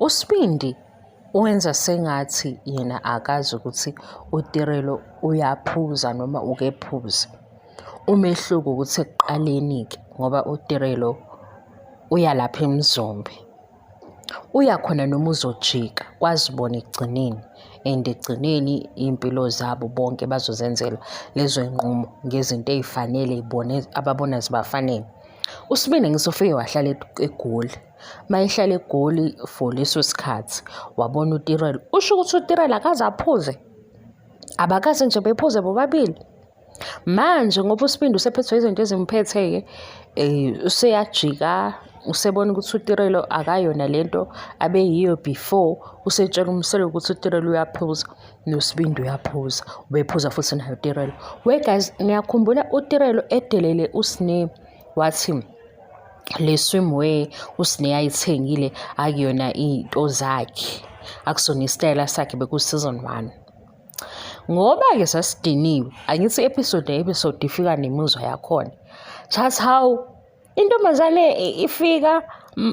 Usibindi wenza sengathi yena akazi ukuthi uTirelo uyaphuza noma ukephuza. Umehluko ukuthi ekuqaleni-ke ngoba uTirelo uya lapha emzombe. Uya khona noma uzojika kwazibona ekugcineni and ekugcineni iy'mpilo zabo bonke bazozenzela lezo y'nqumo ngezinto ey'fanele bona ababona zibafanele. USibindi ngisho ufike wahlala eGoli. mayihlala egoli for leso sikhathi wabona utirelo usho ukuthi utirelo akaze aphuze abakaze nje bephuze bobabili manje ngoba usibindi usephethwe izinto ezimphethe-ke um useyajika usebona ukuthi utirelo akayona le nto abeyiyo before usetshela umselo ukuthi utirelo uyaphuza nosibindi uyaphuza ubephuza futhi nayo utirelo we guys niyakhumbula utirelo edelele usine wathi le swimwear usine ayithengile akuyona iy'nto zakhe akusona isitayela sakhe bekuseason one ngoba-ke sasidiniwe angithi i-episode ne-episode ifika nemizwa yakhona just how intombazane ifika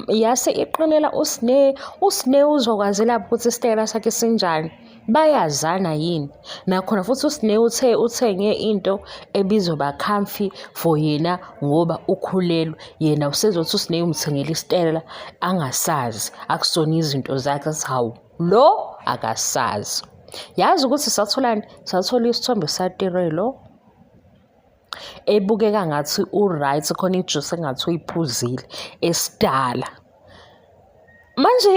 yase iqinela usine usine uzokwazela ukuthi isitayela sakhe sinjani bayazana yini nakhona futhi usine uthe uthenge into ebizoba comfy for yena ngoba ukhulelwe yena usezothi usine umthengela isitela angasazi akusona izinto zakhe hawu lo akasazi yazi ukuthi satholani sathola isithombe satirelo ebukeka ngathi u-right khona ijuice engathi uyiphuzile esidala manje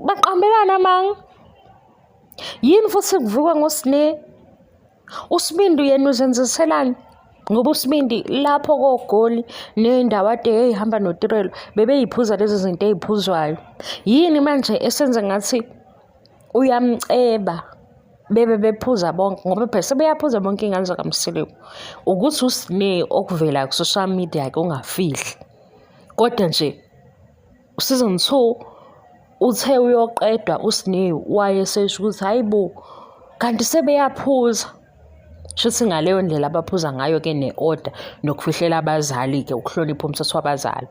baqambelana amanga yini futhi kuvukwa ngosine usibindi yena uzenziselani ngoba usibindi lapho kogoli nendawo ade eyihamba notirelo bebeyiphuza lezi zinto eziphuzwayo yini manje esenza ngathi uyamceba bebe bephuza bonke ngoba phela sebeyaphuza bonke iy'ngane zakamseleku ukuthi usine okuvela ku-social media ke ungafihli kodwa nje season two uthe uyoqedwa usine wayesesho ukuthi hhayi bo kanti sebeyaphuza shuthi ngaleyo ndlela abaphuza ngayo ke ne-order nokufihlela abazali-ke ukuhlonipha umthetho wabazali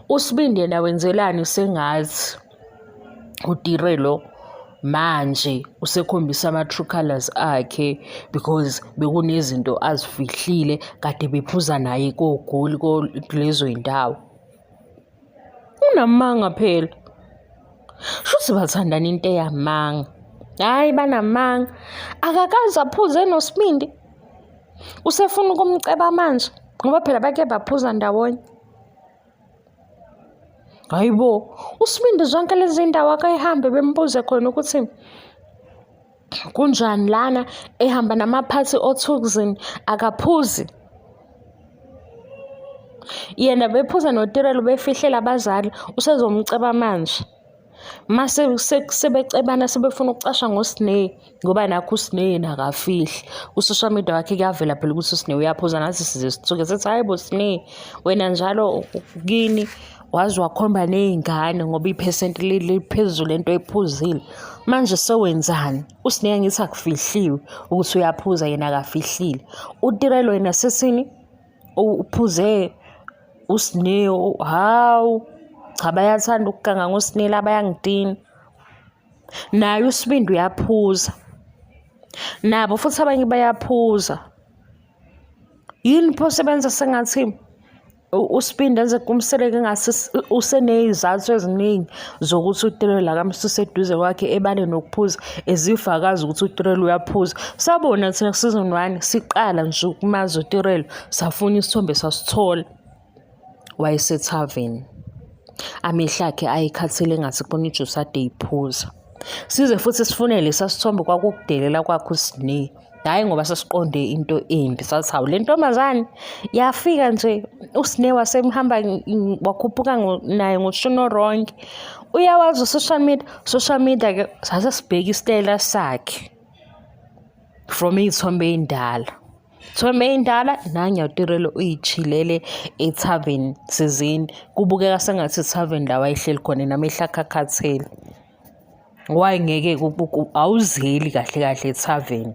usibindi yena wenzelani sengathi utire lo manje usekhombisa ama-true colours akhe because bekunezinto azifihlile kade bephuza naye kogoli kulezo iy'ndawo unamanga phela shuthi bathandana into eyamanga hhayi banamanga akakaze aphuze nosibindi usefuna ukumceba manje ngoba phela bake baphuza ndawonye hayi bo usibindi zonke lezi ndawo akayihambe bembuze khona ukuthi kunjani lana ehamba namaphathi othukuzini akaphuzi yena bephuza notirelo befihlela abazali usezomceba manje mase sebecebana sebefuna ukucasha ngoSneh ngoba nakho uSneh yena akafihli ku-social media wakhe kuyavela phela ukuthi uSneh uyaphuza nathi size sithuke sithi hhayi bo Sneh wena njalo kini waze wakhomba ney'ngane ngoba iphesenti liphezulu lento ephuzile manje sewenzani uSneh angithi akufihliwe ukuthi uyaphuza yena akafihlile utirelo yena sesini uphuze usne hawu cha bayathanda ukuganga ngosinela bayangidina naye usibindi uyaphuza nabo futhi abanye bayaphuza yini pho sebenza sengathi usibindi enze kumseleke ngathi useney'zathu eziningi zokuthi uTirelo akamsuse eduze kwakhe ebane nokuphuza ezifakazi ukuthi uTirelo uyaphuza sabona thina season 1 siqala nje ukumazi uTirelo safuna isithombe sasithola wayesethaveni amehla akhe ayekhathele ngathi kubona ijuice ade iphuza size futhi sifunele sasithombe kwakukudelela kwakho uSinee hhayi ngoba sesiqonde into embi sathi hawu le ntombazane yafika nje usine wasemhamba wakhuphuka naye ngoshuni oronke uyawazi usocial media social media ke sase sibheke isitayela sakhe from iy'thombe ey'ndala thombe ey'ndala nangiyatirelo uyijhilele ethaveni sizini kubukeka sengathi ithaveni la wayehleli khona nami ehlakhakhathele why ngeke awuzeli kahle kahle ethaveni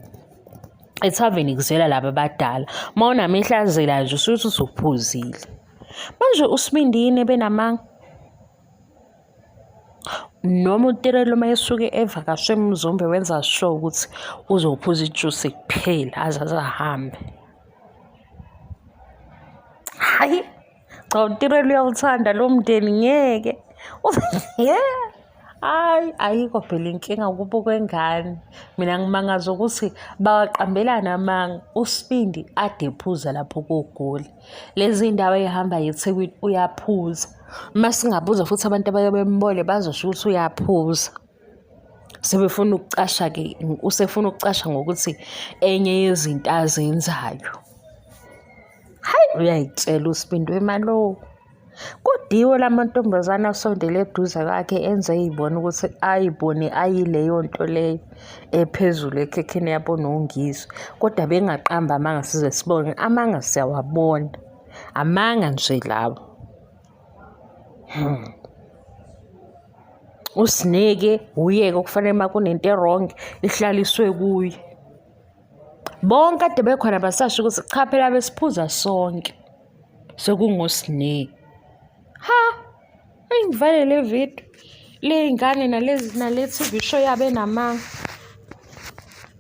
ethaveni kuzela laba abadala uma unamehla azela nje usuthi usuphuzile manje usibindini benamanga noma uterelo uma esuke evakashe emzombe wenza sure ukuthi uzophuza ijusi kuphela aze azahambe hayi cha utirelo uyawuthanda lo mndeni ngeke hayi ayikho phela inkinga kubo kwengane mina ngimangaza ukuthi bawaqambelana amanga usibindi ade ephuza lapho kogoli lezi ndawo eyihamba yethekwini uyaphuza uma singabuza futhi abantu abaye bembole bazosho ukuthi uyaphuza sebefuna ukucasha ke usefuna ukucasha ngokuthi enye yezinto azenzayo Hayi uyayitshela uSibindi wemalowo. Kudiwe la mantombazane asondele eduze kwakhe enze eyibona ukuthi ayibone ayileyo nto leyo ephezulu ekhekheni yabona uNgizwe kodwa bengaqamba amanga size sibone amanga siyawabona amanga nje lawo hmm. usineke uyeke okufanele uma kunento erongi ihlaliswe kuye Bonke ade bekhona basasho ukuthi cha phela besiphuza sonke. Sekungosine. Ha! Ayingivale le video. Ley'ngane nalezi nale-T_V show yabo enamanga.